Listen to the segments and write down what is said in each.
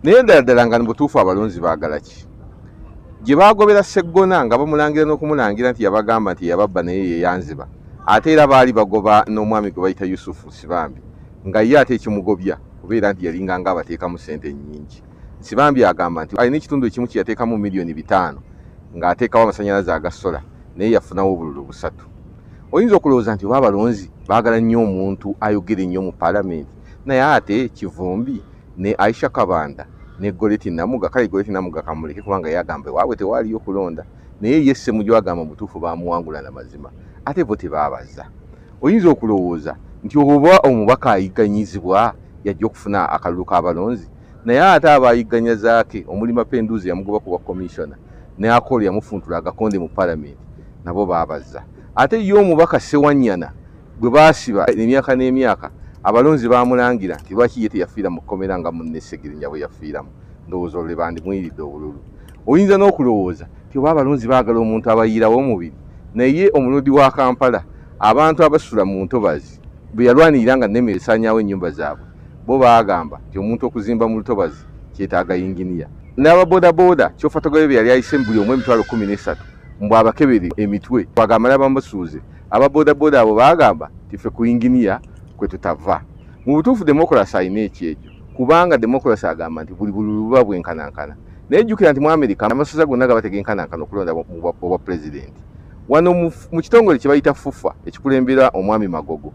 naye endala ddala nga mubutuufu abalonzi baagala ki gye baagobera seggona nga bamulangira n'okumulangira nti yabagamba nti yababba naye yeyanziba ate era baali bagoba n'omwami gwe bayita yusufu sibambi nga ye ate ekimugobya kubeera nti yalinga nga abateekamu sente nnyingi sibambi agamba nti alina ekitundu ekimu kye yateekamu miliyoni bitaano ng'ateekawo amasanyalaze agasola naye yafunawo obululu busatu oyinza okulowooza nti oba abalonzi baagala nnyo omuntu ayogera ennyo mu paalamenti naye ate kivumbi ne aisha kabanda ne goleti namuga kale goleti namuga kamuleke kubanga yagamba ewaabwe tewaaliyo kulonda naye ye ssemuju agamba mutuufu baamuwangula na mazima ate bo tebaabaza oyinza okulowooza nti oba omubaka ayigganyizibwa yajja okufuna akalulu k'abalonzi naye ate abaayigganya zaake omuli mapenduuzi yamugoba ku bwa komishona ne akoolo yamufuntula agakonde mu palamenti nabo baabaza ate ye omubaka ssewanyana gwe baasiba emyaka n'emyaka abalonzi baamulangira nti lwaki ye teyafiira mu kkomera nga munne segirinya bwe yafiiramu ndowooza olule bandimuyiridde obululu oyinza n'okulowooza nti oba abalonzi baagala omuntu abayiirawo omubiri naye omulodi wa kampala abantu abasula mu ntobazi bwe yalwanirira nga nemere esaanyaawo ennyumba zaabwe bo baagamba nti omuntu okuzimba mu lutobazi kyetaaga yinginiya n'ababodaboda kyofatogayo bye yali ayise mu buli omu emitwalo kumi n'esatu mbu abakebere emitwe bagamala bamasuuze Aba bodaboda abo baagamba nti ffe ku yinginiya kwe tutava. Mu butuufu demokulasi alina ekyejo kubanga demokulasi agamba nti buli bululu buba bwenkanankana. Naye jjukira nti mu Amerika amasaza gonna gaba tegenkanankana okulonda obwapulezidenti. Wano mu kitongole kye bayita FUFA ekikulembera omwami Magogo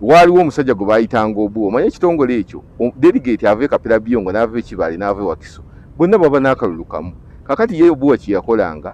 waaliwo omusajja gwe baayitanga obu omanye ekitongole ekyo delegate ava e kapira biyongo n'ava ekibaale n'ava e wakiso bonna baba n'akalulu kamu kakati ye obuwa kye yakolanga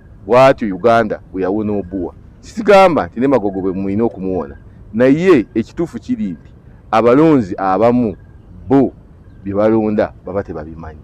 bwatyo uganda bweyawona obuwa sisigamba nti nemagogo bwe mulina okumuwona naye ekituufu kiri nti abalonzi abamu bo bye balonda baba tebabimanyi